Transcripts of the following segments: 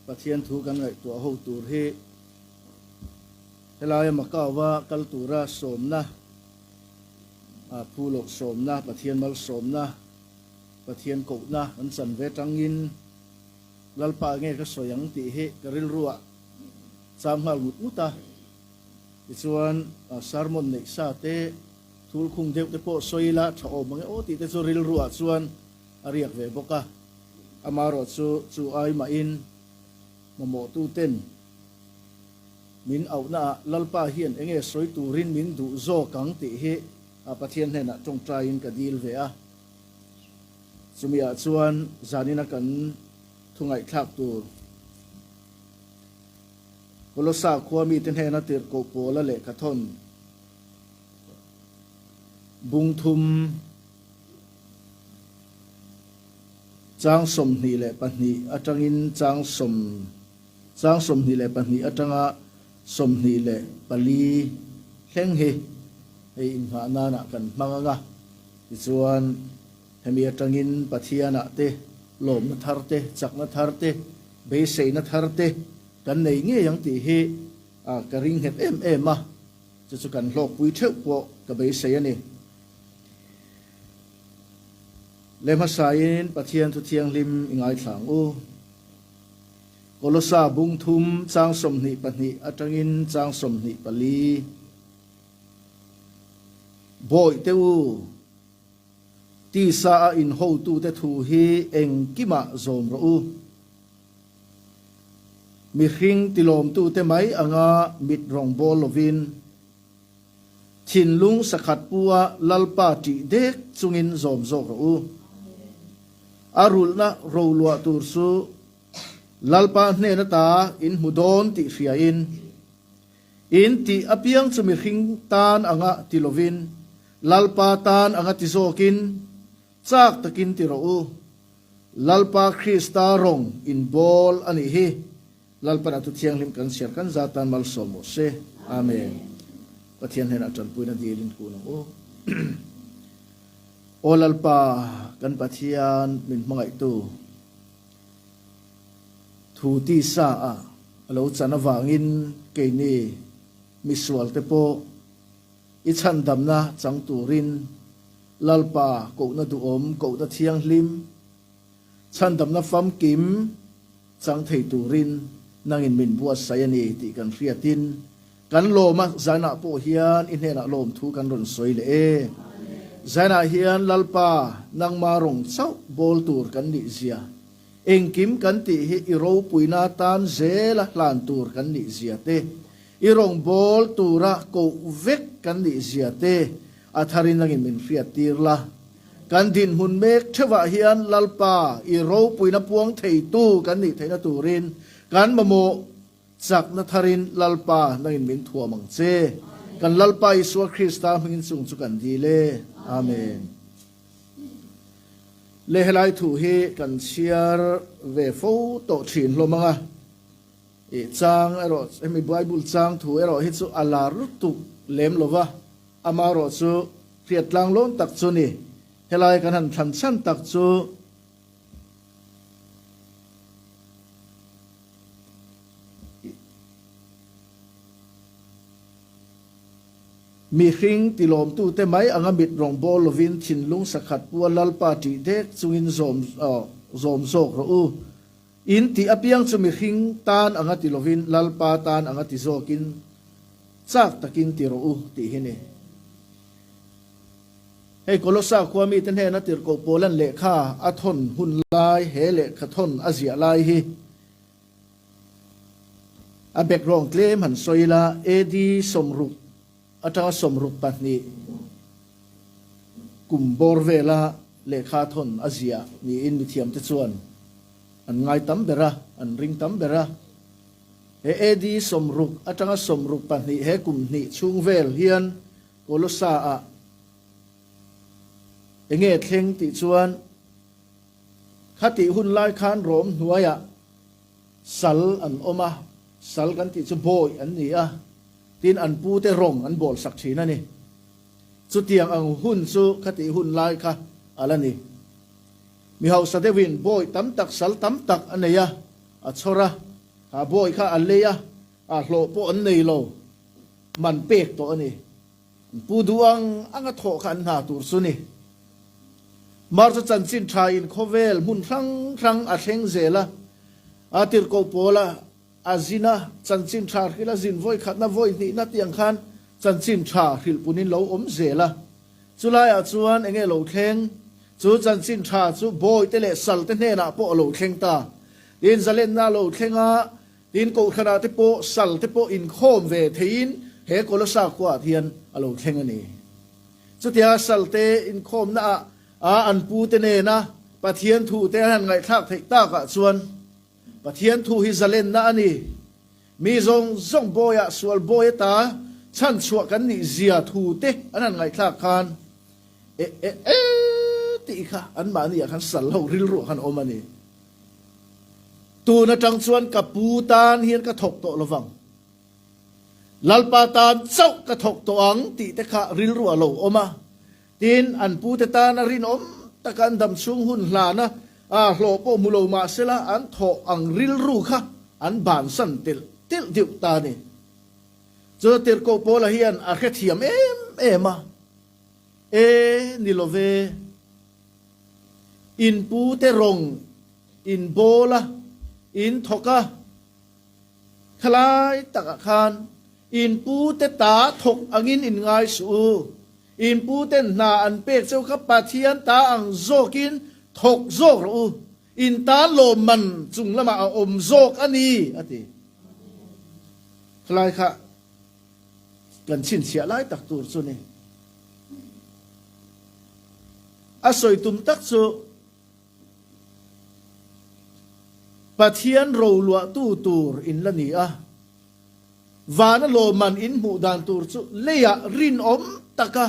Pathian thu kan ngaihtuah ho tur hi helaia Macau-a kal tura sawmna, phu lawk sawmna, Pathian malsawmna, Pathian kohna kan chan ve tangin Lalpa nge ka sawi ang tih hi ka rilruah cham nghal mut mut a. Tichuan sermon neih sa te, thul khung deuh te pawh sawi ila tha awm ang e aw tih te chu rilruah chuan, a riak ve bawk a, amah erawh chu chu ai mahin mamawhtuten min auhna ah Lalpa hian eng nge sawi turin min duh zawk ang tih hi Pathian hnenah tawngtaiin ka dil ve a, chumi ah chuan zanina kan thungaihthlak tur Kolosa khua mi te hnena tirhkoh pawla lehkhathawn bungthum, Chang sawmhnih leh pahnih atangin chang sawm Chang sawmhnih leh pahnih atanga sawmhnih leh pali thleng hi hei inngah nana kan hmang ang a, tichuan hemi atangin Pathianah te, lawmna thar te, chakna thar te, beiseina thar te kan nei ngei ang tih hi ka ringhet em em a, chu chu kan hlawkpui theuh pawh ka beisei a ni. Le hmasain Pathian Thu Thianghlim i ngaithlang u. Kolosa bung thum chang sawmhnih pahnih atangin chang sawmhnih pali, Bawih teh u, tisa a inhotute thu hi engkimah zawm rawh u. Mihring tilawmtute mai anga mit rawngbawl lovin Thinlung sakhat pua Lalpa tih dek chungin zawm zawk rawh u. A rulhna ro luah tur chu Lalpa hnen ata in hmu dawn tih hria in, in tih apiang chu mihring tan anga ti lovin, Lalpa tan anga ti zawk in, chak takin ti rawh u. Lalpa Krista rawng inbawl a nih hi. Lalpan a Thu Thianghlim kan chhiar kan za tan malsawm maw se. Amen. Pathian hnena a tanpuina dil in kun ang u. Aw Lalpa kan Pathian min hmangaihtu, thu tisa a a lo chan avangin keini misual te pawh i chhandamna chang turin Lalpa kohna duhawm, kohna thianghlim, chhandamna famkim, chang thei turin nangin min buatsaih a ni tih kan hriatin kan lawm a, Ziona pawh hian i hnenah lawm thu kan rawn sawi leh e. Ziona hian Lalpa, nangma rawng chauh bawl tur kan nih zia, engkim kan tih hi i ropuina tan zel a hlan tur kan nih zia te, i rawng bawl tura koh vek kan nih zia te a tharin nangin min hriattir la. Kan dinhmun mek theuhah hian Lalpa i ropuina puang theitu kan nih theihna turin kan mamawh chakna tharin Lalpa nang in min thuam ang che. Kan Lalpa Isua Krista hmingin chung chu kan dil e. Amen. Le helai thu hi kan chhiar ve fo tawh thin hlawm anga chang erawh hemi Bible chang thu erawh hi chu a la lutuk lem lova. Amah rawh chu hriat tlang lawm tak chu ni. Helai kan han thlan chhan tak chu mihring ti lawmtute mai anga mit rawngbawl lovin thinlung sakhat pua Lalpa ṭih dek chungin zawm zawm zawk rawh u. In tih apiang chu mihring tan anga ti lovin Lalpa tan anga ti zawkin chak takin ti rawh u tih hi ni. Hei Kolosa khua mite hnena tirhkoh Paulan lehkha a thawn hun lai he lehkha thawn a ziah lai hi a background tlem han sawi ila AD sawmruk Atanga sawmruk pahnih kum bawr vela lehkha thawn a zia niin mithiamte chuan an ngai tam ber a, an ring tam ber a. He AD sawmruk atanga sawmruk pahnih he kum hnih chhung vel hian Kolossaah enge thleng tih chuan, Khati hun lai khan Rom hnuaiah, Sal an awm a, sal kan tih chu bawi an ni a, tin an pu te rawng an bawl sak thin a ni. Chutiang ang hun chu khatih hun lai kha a la ni. Mi hausa deuhin bawi tam tak sal tam tak a nei a, a chhawr a, ha bawi kha a lei a, a hlawh pawh an nei lo, man pek tawh a ni. Pu duh ang anga thawh kha an hna tur chu ni. Mar chu chanchin tha in khawvel hmun hrang hrang a thleng zel a, a tirhkoh pawl a a zin a, chanchin tha hrilh a zin vawi khatna vawi hnihna tiang khan chanchin tha hrilh pun in lo awm zel a. Chu lai ah chuan eng nge lo thleng? Chu chanchin tha chu bawi te leh sal te hnenah pawh a lo thleng ta. Inzalenna lo thlenga. Tin, Kohhranah te pawh sal te pawh inkhawm ve theiin he Kolosa khuaah hian a lo thleng a ni. Chutia salte inkhawmna ah ah an pu te nena Pathian thu te an han ngaihthlak theih tak ah chuan Pathian thu hi zalenna a ni. Mi zawng zawng bawi ah sual bawi a ta chhan chhuah kan nih zia thu te an han ngaihthlak khan eh eh eh tih kha anmahni ah khan sal ho rilru ah khan a awm a ni. Tun atang chuan ka pu tan hian ka thawk tawh lovang. Lalpa tan chauh ka thawk tawh ang tih te kha rilru a lo awm a, tin an pu te tan a rinawm taka an dam chhung hun hlan a aa hlawh pawh hmu lo mah sela an thawh ang rilru kha an bansan telh telh deuh ta ni. Chu tirhkoh pawla hian a hrethiam em em a, e ni lo ve. In pu te rawng in bawl a, in thawk a. Thalai takah khan in pu te ta thawk angin in ngai suh u. In pu ten hna an pek cheu kha Pathian ta ang zawkin thawk zawk rawh u. In ta lawm man chung lamah a awm zawk a ni, a ti. Thalai kha. Kan chhinchhiah lai tak tur chu ni. A sawi tum tak chu Pathian ro luahtu tur in la ni a. Vana lawmman in hmuh dan tur chu leiah rinawm taka,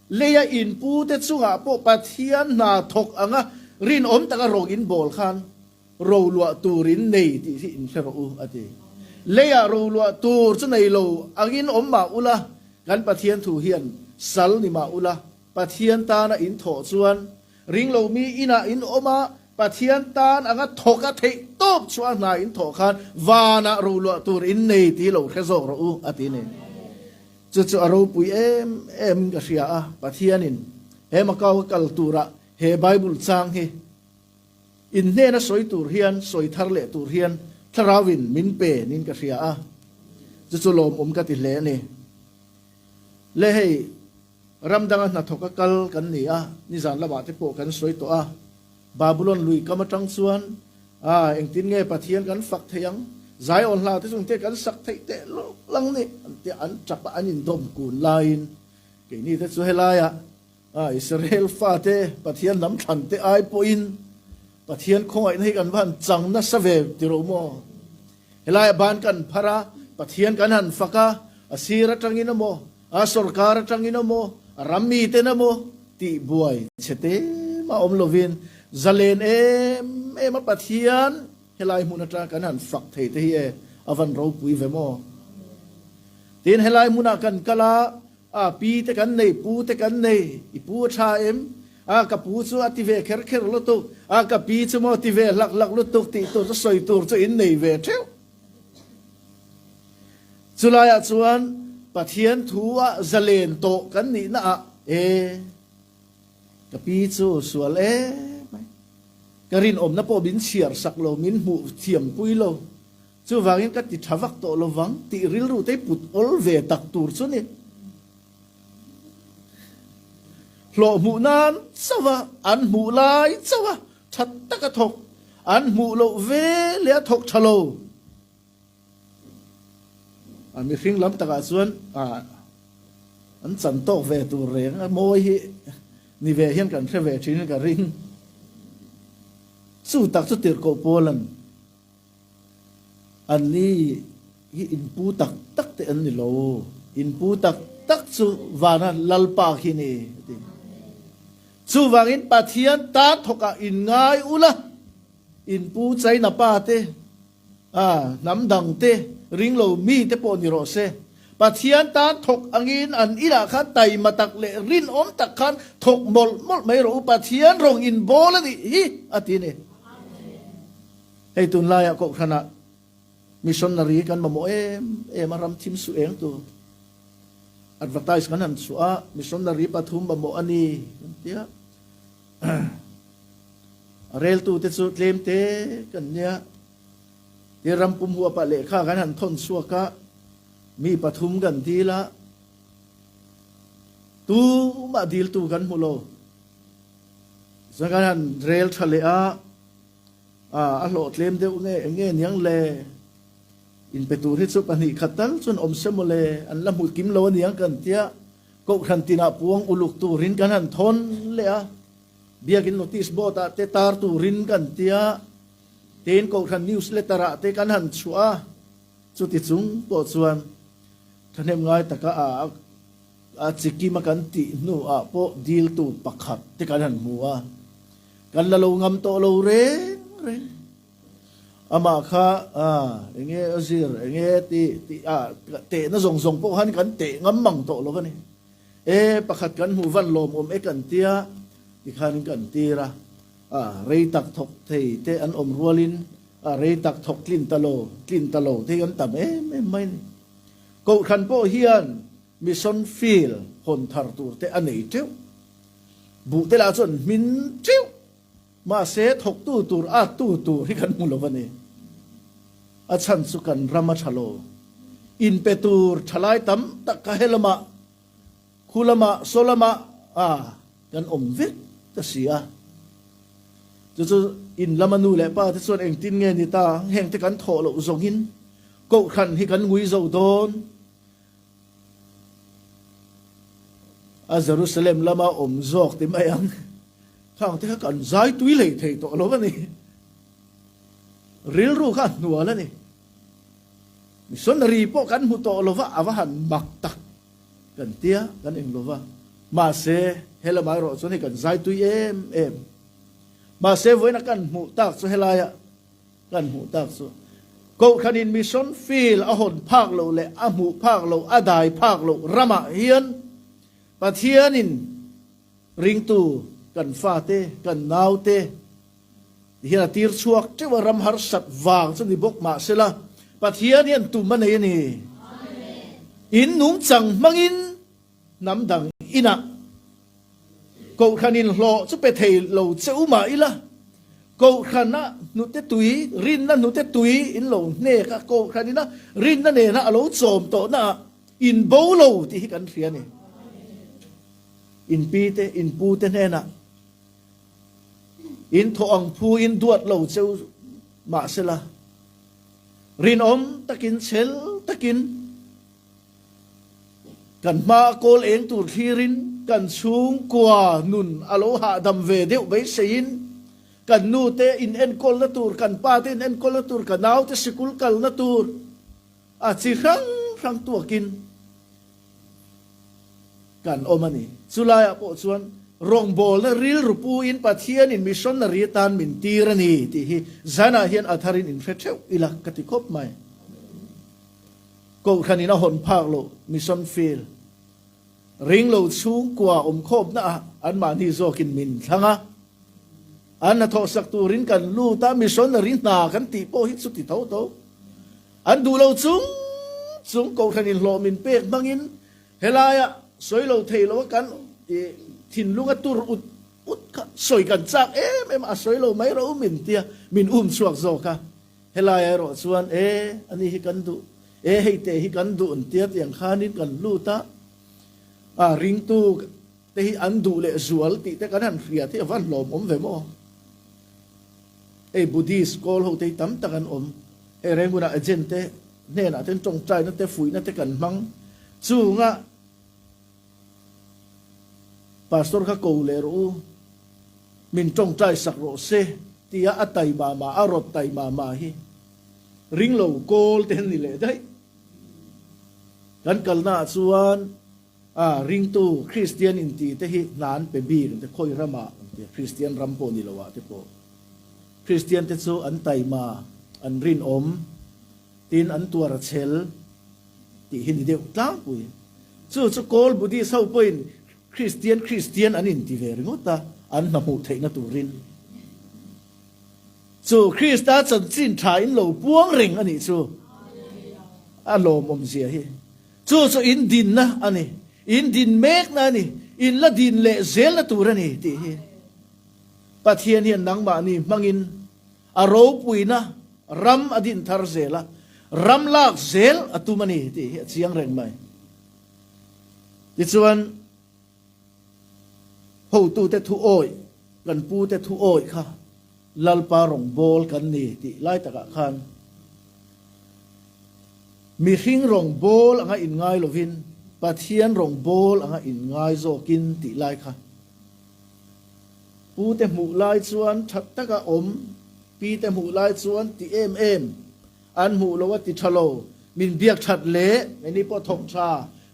leia inpute chungah pawh Pathian hna thawk anga rinawm taka rawng inbawl khan, Ro luah turin nei tih hi inhre rawh u, a ti. Leiah ro luah tur chu nei lo angin awm mah ula, kan Pathian thu hian sal ni mah ula, Pathian tana in thawh chuan ring lo mi inah in awm a, Pathian tan anga thawka theih tawp chhuah hna in thawh khan vanah ro luah tur in nei ti lo hre zawk rawh u, a ti ni. Chu chu a ropui em em in ka hria a, Pathianin he Macau a kal turah he Bible chang hi, In hnena sawi tur hian sawi thar leh tur hian thlarau in min pe niin ka hria a, chu chu lawm um ka ti hle a ni. Le hei ram danga hnathawk a kal kan ni a, nizan lamah te pawh kan sawi tawh a, Babulon lui kam atang chuan a engtin nge Pathian kan fak thei ang? Zion hla te chungte kan sak theih teh lawk lang nih? An tia an tap a, an indawm kun laiin keini te chu helaiah, A Israel fate Pathian hnam thlan te ai pawhin Pathian khawngaihna hi kan va han chang nasa ve ti ro maw? Helaiah ban kan phar a, Pathian kan han fak a, a sir atangin emaw, a sorkar atangin emaw, a ram miten emaw tih buai chhe te mah awm lovin zalen em em a Pathian helai hmun atang kan han fak thei te hi e a van ropui ve maw? Tiin helai hmunah kan kal a, A pi te kan nei, pu te kan nei, i pu a tha em? A ka pu chu a ti ve kher kher lutuk, a ka pi chu maw ti ve hlak hlak lutuk tih tur chu sawi tur chu in nei ve theuh. Chulaiah chuan Pathian thu a zalen tawh kan nihna ah e ka pi chu sual em mai, ka rinawmna pawh min chhiar sak lo, min hmuh thiam pui lo. Chuvangin ka ti tha vak tawh lovang tih rilru te put awl ve tak tur chu ni. Hlawh hmuh nan chauha an hmuh lai chauha tha taka thawk an hmuh loh ve leh a thawk tha lo. A mihring lam takah chuan ah an chan tawk ve tur reng a mawi hi ni ve hian kan hre ve thin ka ring chu tak chu tirhkoh pawl a ni. An ni hi in pu tak tak te an ni lo. In pu tak tak chu vana Lalpa khi ni a ti. Chuvangin Pathian ta thawkah in ngai ula, in pu China pa te, a hnam dang te, ring lo mi te pawh ni rawh se, Pathian ta thawk angin an inah khan taima tak leh rinawm tak khan thawk mawlh mawlh mai rawh u, Pathian rawn inbawl a nih hi a ti a ni. Hei tunlaiah Kohhranah missionary kan mamawh em em a ram thim suh eng tur advertise kan han chhuah a, missionary pathum mamawh a ni kan ti a. A reltute chu tlem te kan nia. Tir ram pum huap ah lehkha kan han thawn chhuak a, mi pathum kan dil a, tumah diltu kan hmu lo. Tichuan kan han rel tha leh a. A a hlawh tlem deuh nge eng nge niang le? In pe tur hi chu pahnih khat tal chuan awm se maw le, an la hmu kim lo aniang kan tia Kohhran tinah puang uluk turin kan han thawn leh a, biakin notice board ah te tar turin kan tia tein Kohhran news letter ah te kan han chhuah a, chuti chung pawh chuan thahnem ngai taka a A chikim a kan tih hnuah pawh diltu pakhat te kan han hmu a, kan la lo ngam tawh lo reng reng. Amah kha aah eng nge a zir eng nge ti tih a tehna zawng zawng pawh khan kan teh ngam mang tawh lo va ni. E pakhat kan hmu van lawm awm e kan tia ti khan kan tir a, aah rei tak thawk thei te an awm rualin a rei tak thawk tlin ta lo tlin ta lo te hi an tam em em mai a ni. Kohhran pawh hian Mission field hawn thar tur te a nei teuh. Buh te lah chuan an hmin teuh. Mahse, thawktu tur attu tur hi kan hmu lo a ni. A chhan chu kan ram a tha lo. In pe tur thalai tam tak kha he lamah, khu lamah, saw lamah a kan awm vek ka si a. Chu chu in lama nu leh pa te chuan engtin nge ni ta, heng te kan thawh loh zawngin, kohhran hi kan ngui zo dawn. A Jerusalem lama awm zawk ti mai ang. Thlangte kha kan zai tui lei thei tawh lo a ni. Rilru kha a hnual a ni. Missionary pawh kan hmu tawh lova a va han mak tak kan tia kan eng lo va. Mahse helamah erawh chuan hei kan zai tui em em. Mahse vawiin a kan hmuh tak chu helaia Kan hmuh tak chu Kohhranin Mission Field a hawn phak loh leh a hmuh phak loh, a dai phak loh ramah hian Pathianin ringtu kan fate, kan naute ti hian a tirchhuak teuh a, ram harsat vang chu ni bawk mah sela Pathian hian tum a nei a ni. Innung chang hmangin. Hnam dang inah Kohhran in hlawh chu pe thei lo cheu mah ila, Kohhran a hnute tui, rinna hnute tui in lo hnek a, Kohhran ina rinna nena a lo chawm tawh naah in bo lo tih hi kan hria ni. In pi te, in pu te hnenah in thaw ang phu in duat lo cheu mah sela, rinawm takin chhel takin, Kan hma a kawl eng tur thlirin kan chhung kua nun a lo hahdam ve deuh beiseiin kan nute inenkawl-na tur, kan pate inenkawl-na tur, ka naute sikul kalna tur a chi hrang hrang tuakin kan awm a ni. Chu laiah pawh chuan rawngbawlna rilru puin Pathianin missionary atan min tir a ni tih hi zanah hian a tharin in hre theuh ila ka ti khawp mai. Kohhran in a hawn phak loh Mission Field ring lo chhung kua awm khawpna ah anmahni zawk in min thlang a, an hnathawhsak tur in kan lut a, missionary hna kan tih pawh hi chuti tho tho. An duh lo chung chung Kohhran in hlawh min pek hmang in helai ah sawi lo thei lo a kan thinlung a tur ut ut kha sawi kan chak em em a, a sawi lo mai rawh u min tia min um chhuak zawk a. Helai erawh chuan, E, ani hi kan duh, e, hei te hi kan duh, tia tiang khanin kan lut a. A, ringtu te hi an duh leh zual tih te kan han hriat hi a va hlawm awm ve maw? Hei Buddhist kawl ho te hi tam tak an awm. Hei reng huna agent te hnenah ten tawngtaina te fuihna te kan hmang chungah, Pastor kha ko leh rawh u, min tawngtai sak rawh se tia a tai mama a rawt tai mama hi ring lo kawl te an ni leh daih. Kan kalnaah chuan a ringtu Kristian inti te hi hna an pe bik ang te, khawi ramah ang te, Kristian ram pawh ni loah te pawh Kristian te chu an taima an rinawm tin an tuar a chhel. Tih hi ni deuh tlangpui. Chu chu Kawl Buddhist ho pawhin Kristian Kristian an inti ve ringawt a, an hna hmuh theihna turin. Chu Krista chanchin tha in lo puang reng a nih chu a lawmawm zia hi. Chu chu in dinna a ni, in din mekna a ni, in la din leh zelna tur a ni tih hi. Pathian hian nangmahni hmangin A ropuina ram a din thar zel a, ram lak zel a tum a ni tih hi a chiang reng mai. Tichuan, hotute thu awih, kan pute thu awih kha Lalpa rawngbâwl kan ni tih lai takah khan, mihring rawngbâwl anga inngai lovin Pathian rawngbâwl anga inngai zawkin tih lai kha, Pute hmuh lai chuan that tak a awm, Pite hmuh lai chuan ti em em an hmuh lo a ti tha lo. Min biak that le eni pawh thawk tha,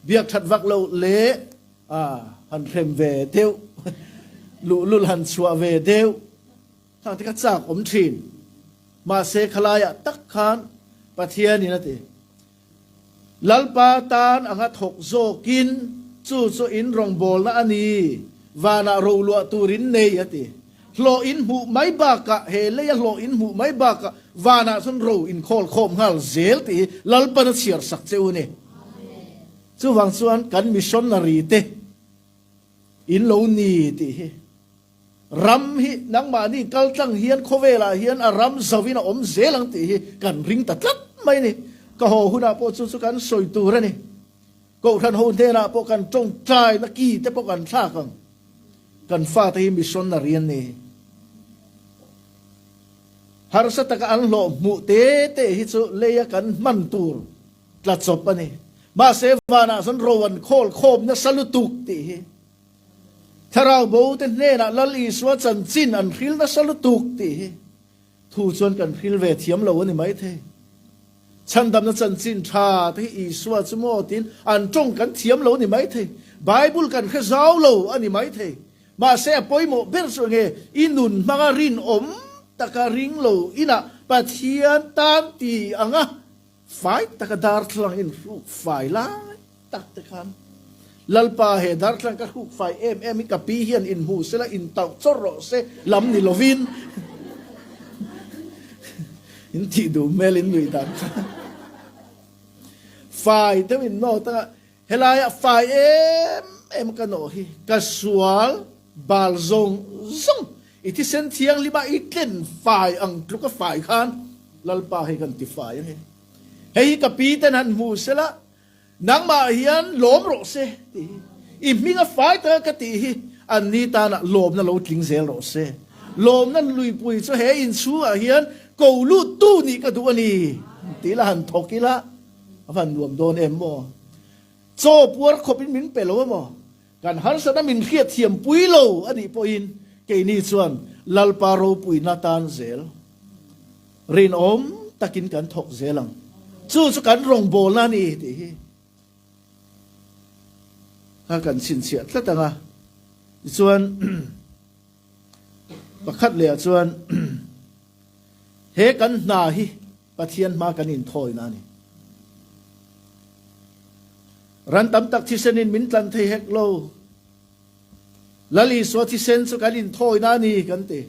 biak that vak lo le ah han hrem ve deuh, luhlul han chhuah ve deuh thang te kha chak awm thin. Mahse khalaiah tak khan Pathianin a ti. Lalpa tan a nga thawk zawkin, Chu chu in rawngbawlna a ni, vanah ro luah turin nei? a ti. Hlawh in hmuh mai bakah, he leia hlawh in hmuh mai bakah vanah chuan ro in khawl khawm nghal zel tih hi Lalpan a chhiar sak che u ni. Chuvang chuan kan missionary te in lo ni tih hi Ram hi nangmahni kaltlang hian khawvelah hian a ram zauhin a awm zel ang tih hi kan ring ta tlat mai a ni. Ka haw hunah pawh chu chu kan sawi tur a ni. Kohhran ho hnenah pawh kan tawngtaina ki te pawh kan thlak ang. Kan fate hi missionary an ni. Harsa taka an hlawh hmuh te te hi chu lei a kan hman tur tla chawp a ni. Mahse, vanah chuan Rowan khawl khawmna sa lutuk tih hi. Thlarau bo te hnenah Lal Isua chanchin an hril nasa lutuk tih hi thu chuan kan hril ve thiam lo a ni maithei. Chhandamna chanchin tha te hi Isua chu maw tiin an tawng kan thiam lo ni maithei. Bible kan hre zau lo a ni maithei. Mahse a pawimawh ber chu enge i nun hmanga rinawm taka ring lo inah Pathian tan ti ang a Fai taka darthlalang in hruk fai lai tak te khan Lalpa he darthlalang ka hruk fai em em i ka pi hian in hmu se la in tauh chawr rawh se lam ni lovin in tih duh hmelin nuih dan khan fai deuhin note a Helaiah fai em em ka nawh hi, ka sual bal zawng zawng i thisen thianghlimah i tlen fai ang tluk a fai khan Lalpa hi kan ti fai ang e. Hei hi ka pi ten han hmu se la, nangmah hian lawm rawh se ti hi i hming a fai tak a ka tih hi an ni tanah lawmna lo tling zel rawh se. Lawmna luipui chu he inchhungah hian ko lut tu nih ka duh a ni ti ila han thawk ila. A han nuam dawn em maw? Chaw puar khawpin min pe lo em maw? Kan harsatna min hriatthiam pui lo a nih pawhin keini chuan Lalpa ropuina tan zel rinawm takin kan thawk zel ang. Chu chu kan rawngbawlna a ni tih hi kha kan chhinchhiah tlat ang a. Tichuan pakhat lehah chuan he kan hna hi, Pathian hma kan in thawi na ni. Ran tam tak thisen in min tlan thei hek lo. Lal Isua thisen chu kan in thawi na ni kan ti.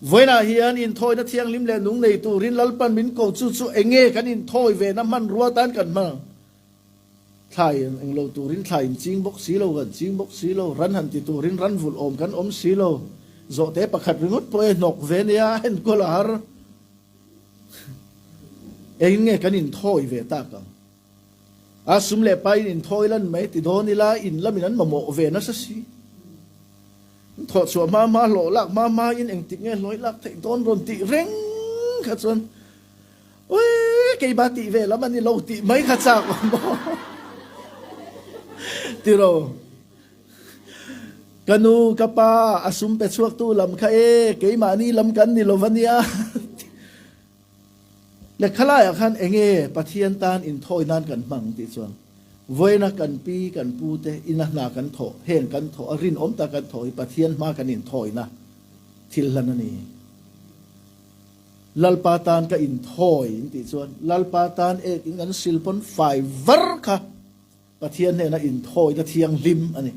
Vawiin ah hian in thawina thianghlim leh nung nei turin lalpan min ko chu chu enge kan in thawi ve na hmanrua tan kan hman ang. Thlai eng lo turin thlai in ching bawk si lo, kan ching bawk si lo, ran han ti turin ran vulh awm kan awm si lo, zawhte pakhat ringawt pawh e hnawk ve nia a enkual a har. Engin nge kan inthawi ve tak ang? A sum leh paiin inthawi lan mai ti dawn ila in lamin an mamawh ve nasa si. An thawh chhuah hma hma, hlawh lak hma hmain engtik nge hlawi lak theih dawn rawn tih reng kha chuan, Uii keimah tih ve lam a ni lo tih mai kha chak awm maw tilo. Ka nu ka pa a sum pe chhuak tu lam kha e keimah ni lam kan ni lo va nia tih. Lehkha lai ah khan eng nge Pathian tan in thawi nan kan hmang tih chuan vawiina kan pi kan pu te in a hna kan thawh heng kan thawh a rinawm ta kan thawh hi Pathian hma kan in thawina thil hlan a ni. Lalpa tan ka in thawi in tih chuan Lalpa tan ek in kan sil pawn fai var kha Pathian hnena in thawi na thianghlim a ni.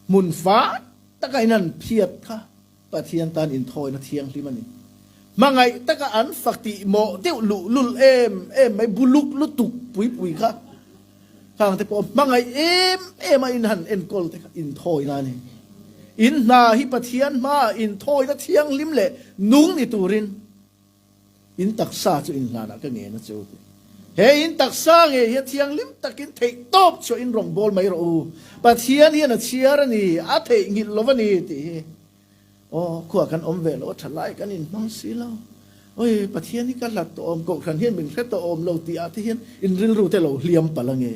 Hmun fai taka in han phiat kha Pathian tan in thawi na thianghlim a ni. Hmangaih taka an fakti mawh deuh luhlul em em mai bu luk lutuk pui pui kha Tlang te pawh hmangaih em em a in han enkawl te kha inthawi na ni. In hna hi Pathian hma ah inthawi na thianghlim leh nung ni turin in taksa chu in hlan ah ka nge na cheu teh. He in taksa nge hian thianghlim takin theih tawp chuah in rawn bawl mai rawh u. Pathian hian a chhiar a ni, a theihnghilh lo va ni tih hi. Aw, khuaa kan awm ve lo, thalai kan inhmang si lo. Awi, Pathian hi ka hlat tawh awm, Kohhran hian min hre tawh awm lo tih ah te hian in rilru te lo hliam palh ange.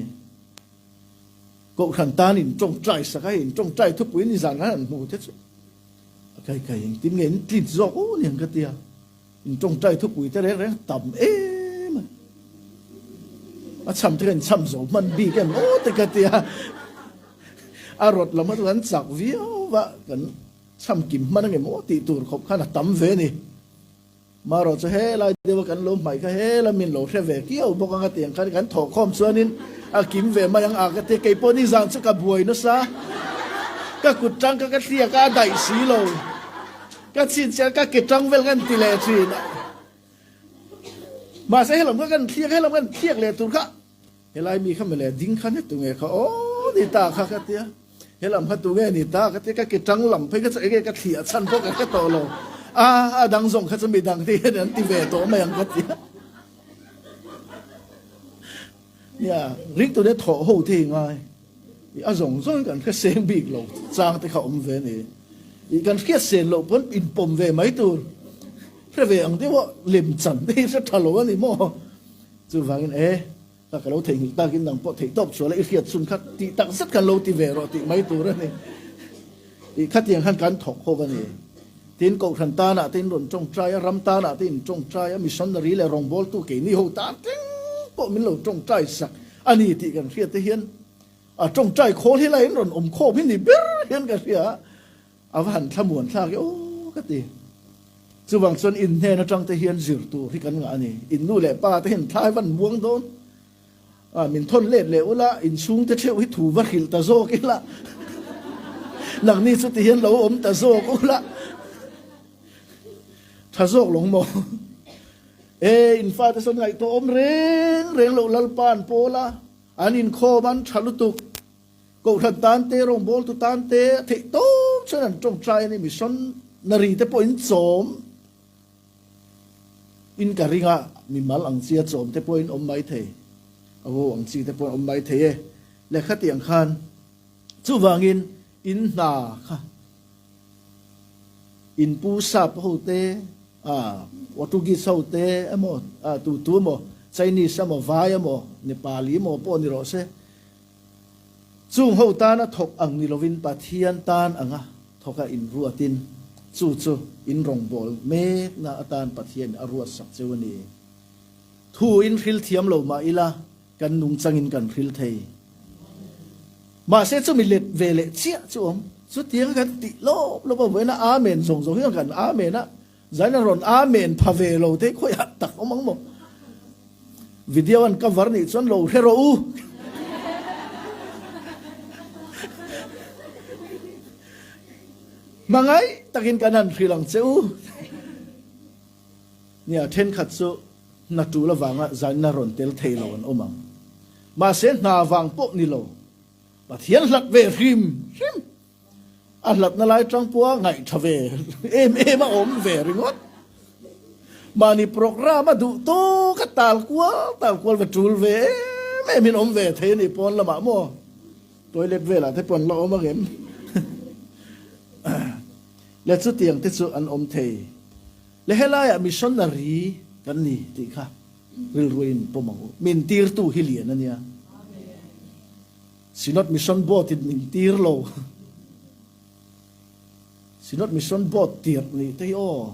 Kohhran tan in tawngtai sak a, in tawngtai thupuiin i zan rang an hmuh te chu a kaikai in tin nge in tlit zawk u niang ka ti a. Min tawngtai thupui te reng reng tam em a. A cham te kan cham zo hman bik em aw te ka ti a. A rawt lam aṭang an chak viau va kan cham kim hman ange maw tih tur khawp khan a tam ve ni. Marawh chu helai deuha kan lo hmai kha hela min lo hre ve kiau bawk ang atiang khan kan thawh khawm chuanin a kim ve mai ang a ka ti. Keipawh nizan chu ka buai nasa ka kut ṭang kha ka hliak a a daih si lo. Ka chhin chian ka ke tang vel kan ti leh chin ah mahse helawm kha kan thiak helawm kan thiak leh tur kha helai mi kha mele ding khan he tunge kha aw ni ta kha ka tia helam kha tunge ni ta ka tia ka ke tang lam phei kha chu enge ka thliah chhan bawk ang ka tawh lo a a dang zawng kha chu mi dang te hian an ti ve tawh mai ang ka tia nia ring tute thawh ho te hi ngai. I a zawng zawng hi kan hre seng bik lo chang te kha awm ve ni. I kan hriat sen loh pawn in pawm ve mai tur hre ve ang deuh a, lem chan te hi hre tha lo a ni maw? Chuvangin e ta ka lo theihnghilh takin nang pawh theih tawp chual a i hriat chhun kha tih tak zet kan lo ti ve rawh tih mai tur a ni. I khatiang khan kan thawk khawp a ni. Tin, Kohhran tanah te in rawn tawng try a, ram tanah te in tawng try a, missionary leh rawngbawltu keini ho tan tling pawh min lo tawng try sak. A ni tih kan hriate hian a tawngtai khawl hi lain rawn awm khawm hi ni ber hian ka hria a, a va han thlamuan thlak e aw ka ti. Chuvang chuan in hnen atang te hian zir tur hi kan ngah a ni, in nu leh pa te hian thlai van buang dawn a, min thawn let leh ula, in chhung te theuh hi thu va hrilh ta zawk ila, nang ni chu tihian lo awm ta zawk ula, tha zawk lawng maw. He infa te sawn ngaihtuah awm reng reng loh Lalpa an pawl a, an inkhawm an tha lutuk. Kohhran tan te, rawngbawltu tan te a theih tawng chuan an tawngtai a ni. Mission na ri te pawh in chawm in ka ring a, mimal ang chi a chawm te pawh in awm mai thei, a ho ang chi te pawh in awm mai thei e. Lehkhatiang khan chuvangin in hna kha. In pu sap ho te, Portuguese ho te emaw, tu tu emaw, Chinese emaw, vai emaw, Nepali emaw pawh ni rawh se, chung ho tana thawk ang ni lovin Pathian tan anga thawka inruatin chu chu in rawngbâwl mekna atan Pathian a ruatsak cheu a ni. Thu in hrilthiam lo mah ila. Kan nung changin kan hril thei. Mahse chu mi let ve leh chiah chu awm. Chutianga kan tih lawp lawp a vuaina amen zawng zawng hi chuan kan amen a, zaina rawn amen pha ve lo thei khawi hah tak awm ang maw? Video an cover nih chuan lo hre rawh u. Hmangaih takin kan han hril ang che u. Nia thenkhat chu. Hna tuh la vangah zan na rawn tel thei lo an awm ang. Mahse hna vang pawh ni lo, Pathian hlat ve hrim hrim. A hlat na lai tang pawha ngaih tha ve em em a awm ve ringawt. Mahni program a duh tawka tal kual tal kual ve tul ve em em in awm ve thei a ni pawn lamah maw? Toilet velah te pawh an la awm ang em? Leh chutiang te chu an awm thei. Le helaiah missionary kan ni tih kha rilruain pawm ang u. Min tirtu hi lian a nia. Synod Mission Board in min tir lo. Synod Mission Board tirh nih te hi aw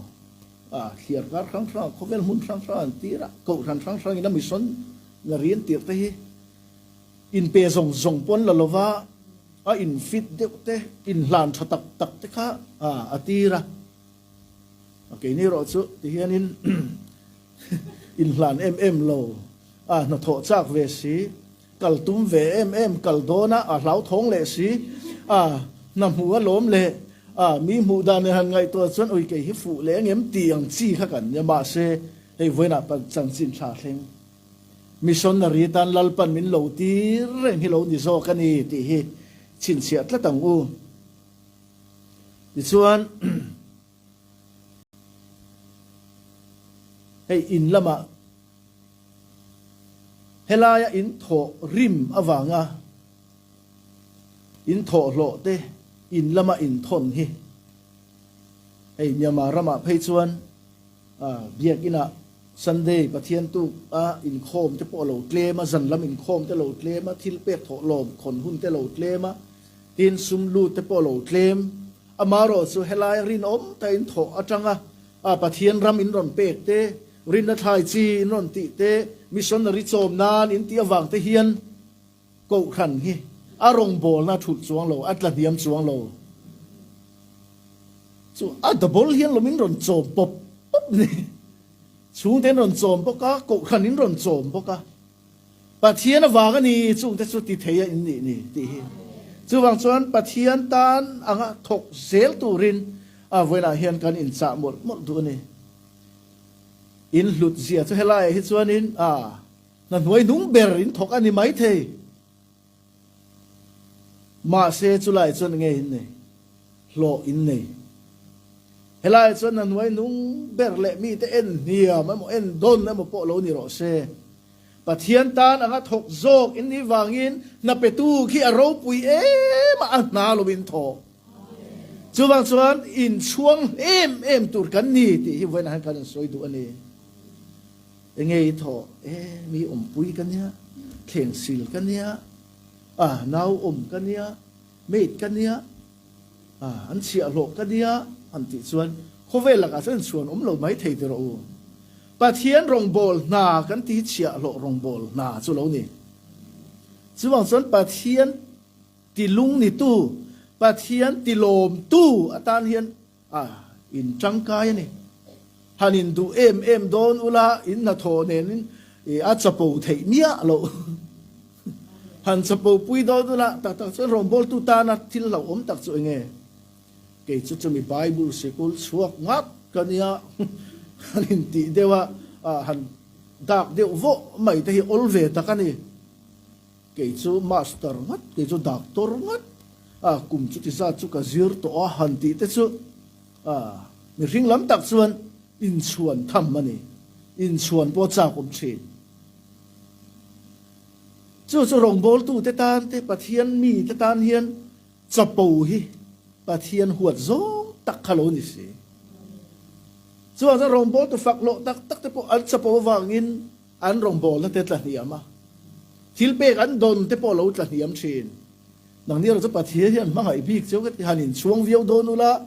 a thliar kar hrang hrang a, khawvel hmun hrang hrang an tir a, kohhran hrang hrang in a missionary an tirh te hi in pe zawng zawng pawh an la lova, a in fit deuh te, in hlan tha tak tak te kha a tir a. A keini rawh chu ti hian in in hlan em em lo a hnathawh chak ve si, kal tum ve em em kal dawn a a hlauthawng leh si a, hna hmu a lawm leh a mi hmuh dan leh han ngaihtuah chuan ui kei hi fuh leh angem tih ang chi kha kan nia mahse hei vawiinah pan chanchin thla thleng missionary tan lal pan min lo tir reng hi lo ni zawk a ni tih hi chhinchhiah tlat ang u. Tichuan, hei in lamah helaia in thawh rim avanga in thawhhlawhte in lama inthawn hi hei Myanmar ramah phei chuan Biakinah Sunday Pathian tuka inkhawmte pawh a lo tlem a, zanlam inkhawmte lo tlem a, thilpek thawhlawm khawn hunte lo tlem a, Tin sum lut te pawh lo tlem. Amarawh chu helai rinawm ta in thawh atanga a Pathian ram in rawn pek te, rinna thlai chi in rawn tih te, missionary chawm nan in tih avang te hian Kohhran hi a rawngbawlna a thulh chuang lo, a tla hniam chuang lo. Chu a double hian lawm in rawn chawm pawp pawp ni. Chhungte in rawn chawm bawk a, Kohhran in rawn chawm bawk a. Pathian avang a ni chungte chu ti thei a in nih ni tih hi. Chuvang chuan Pathian tan anga thawk zel turin a vawiinah hian kan in chah mawlh mawlh duh a ni. In hlut zia chu helaiah hi chuanin a hna hnuai hnung ber in thawk a ni maithei. Mahse chulai chuan nge in nei? Hlawh in nei. Helai chuan na hnuai nung ber leh mite en hniam emaw en dawn emaw pawh lo ni rawh se, Pathian tan anga thawk zawk in ni vangin hna petu khi a ropui em a a hna lovin thaw. Chuvang chuan inchhuang em em tur kan ni tih hi vawiinah hian kan rawn sawi duh a ni. Enge i thawh e, mi awmpui ka nia, thleng sil ka nia, a, nau awm ka nia, maid ka nia, a, an chhiah hlawh ka nia, han tih chuan khawvel lakah chuan inchhuan awm lo mai thei tiraw u. Pathian rawngbâwl hna kan tih chhiah hlawh rawngbâwl hna chu lo ni. Chuvang chuan Pathian tilung nitu, Pathian tilawmtu atan hian, A in tangkai a ni. Han in duh em em dawn ula in hna thaw nen in i a chapo theih miah lo. Han chapo pui dawn ula tak tak chuan rawngbawltu tana thil hlauhawm tak chu enge? Kei chu chumi Bible sikul chhuak ngat ka nia han in tih deuh a, a han dak deuh vawh mai te hi awl ve tak a ni. Kei chu master ngat, kei chu doctor ngat, a kum chuti zat chu ka zir tawh a, han tih te chu a mihring lam tak chuan inchhuan tham a ni, inchhuan pawh chak awm thin. Chu chu rawngbawltu te tan te, Pathian mi te tan hian chapo hi Pathian huat zawng tak kha lo ni si. Chuan chuan rawngbawltu fak hlawh tak tak te pawh an chapo avangin, An rawngbawlna te tlahniam a, thil pek an dawn te pawh lo tlahniam thin. Nang nia Raja Pathian hian hmangaih bik cio ka ti han in chhuang viau dawn u la,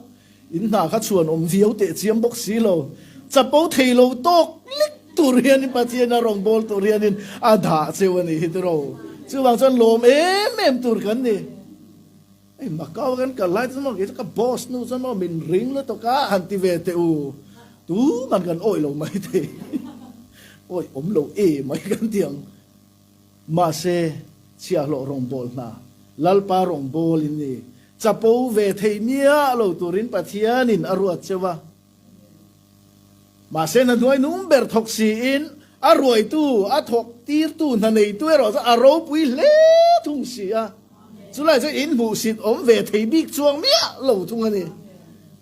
in hna kha chhuan awm viau teh chiam bawk si lo. Chapo thei lo tawk lek tur hian in Pathian a rawngbâwl tur hian in a dah cio a nih hi tiraw. Chuvang chuan lawm em em tur kan ni. Hei Macau kan kal lai te chu maw kei chu ka boss nu chuan maw min ring lutuk a han ti ve teh u, tuman kan awih lo mai thei awih awm lo e mai kan ti ang. Mahse Chhiahhlawh rawngbâwl hna Lalpa rawngbâwl in i chapo ve thei miah lo turin Pathianin a ruat che va. Mahse na hnuai nung ber thawk siin a ruaitu, a thawk tirtu hna neitu erawh chu a ropui hle thung si a, chulai chu in hmuhsit awm ve thei bik chuang miah lo thung a ni.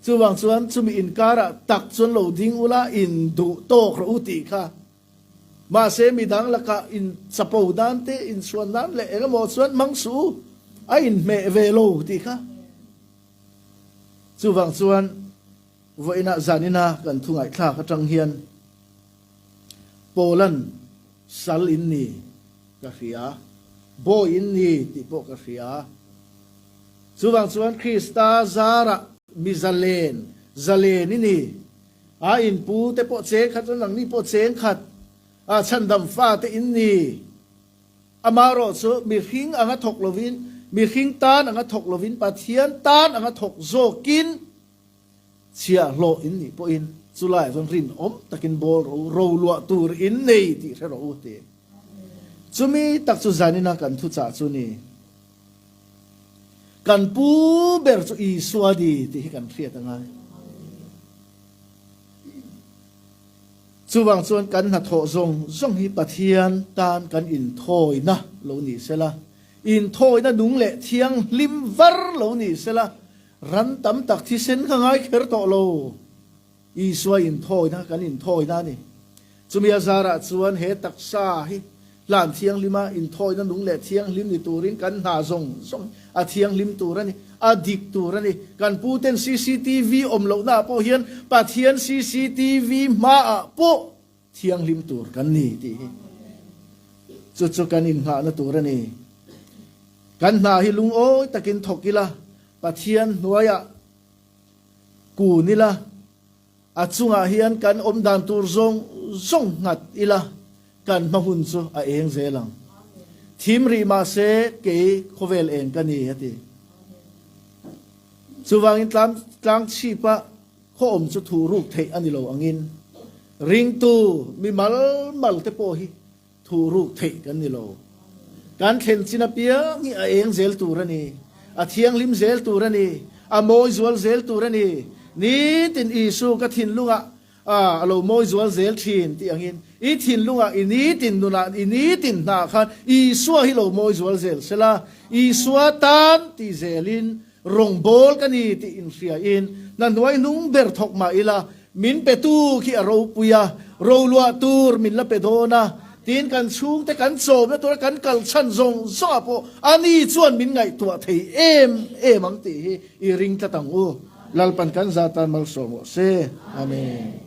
Chuvang chuan chumi inkarah tak chuan lo ding ula in duh tawk rawh u tih kha. Mahse midang lakah in chapo nan te, in chhuan nan leh engemaw chuan hmang suh u, a in hmeh ve lo tih kha. Chuvang chuan. Vawiinah zanina kan thungaihthlak atang hian Poland sal in ni ka hria a, bawi in ni tih pawh ka hria a. Chuvang chuan Krista zarah mizalen, zalen i ni a in pu te pawh cheng khat chuan nangni pawh cheng khat a chhandam fa te in ni. Amah rawh chu mihring anga thawk lovin, mihring tan anga thawk lovin, Pathian tan anga thawk zawkin, Chhia hlawh in nih pawh in chu lai chuan rinawm takin bawl ro, ro luah tur in nei tih hre rawh u ti. Chu mi tak chu zanina kan thu chah chu ni. Kan pu ber chu Isua di tih hi kan hriat anga. Chuvang chuan kan hnathawh zawng zawng hi Pathian tan kan in thawina lo ni sela, in thawina nung leh thiang hlim var lo ni sela, Ran tam tak thisen ka ngai kher tawh lo. Isua inthawina kan inthawina a ni. Chumi a zarah chuan he taksa hi hlan thianglima inthawina nung leh thianghlim ni turin kan hna zawng zawng a thianghlim tur a ni, a dik tur a ni. Kan pu ten CCTV awm lohnaah pawh hian Pathian CCTV hmaah pawh Thianghlim tur kan ni tih hi chu chu kan innghahna tur a ni. Kan hna hi lungawi takin thawk ila, Pathian hnuaiah kun ila, a chungah hian kan awm dan tur zawng zawng nghat ila kan hmahmun chu a eng zel ang. Thim rih mah se kei khawvel eng ka ni a ti. Chuvangin tlang chhipah. Khawawm chu thu ruk theih a ni lo angin, ringtu mi malmal te pawh hi thu ruk theih kan ni lo. Kan thlen chin apiang hi a eng zel tur a ni, a thianghlim zel tur a ni, a mawi zual zel tur a ni. Nitin Isua ka thinlungah a lo mawi zual zel thin tih angin, i thinlungah i nitin nunah i nitin hnah khan Isua hi lo mawi zual zel sela, Isua tan ti zelin Rawngbawl ka ni tih inhriain na hnuai hnung ber thawk mah ila min pe tu khi a ropui a, roluah tur min la pe dawn a tiin kan chhungte kan chawmna tura kan kal chhan zawng zawngah pawh ani chuan min ngaihtuah thei em em ang tih hi i ring tlat ang u. Lalpan kan za tan malsua maw se. Amen.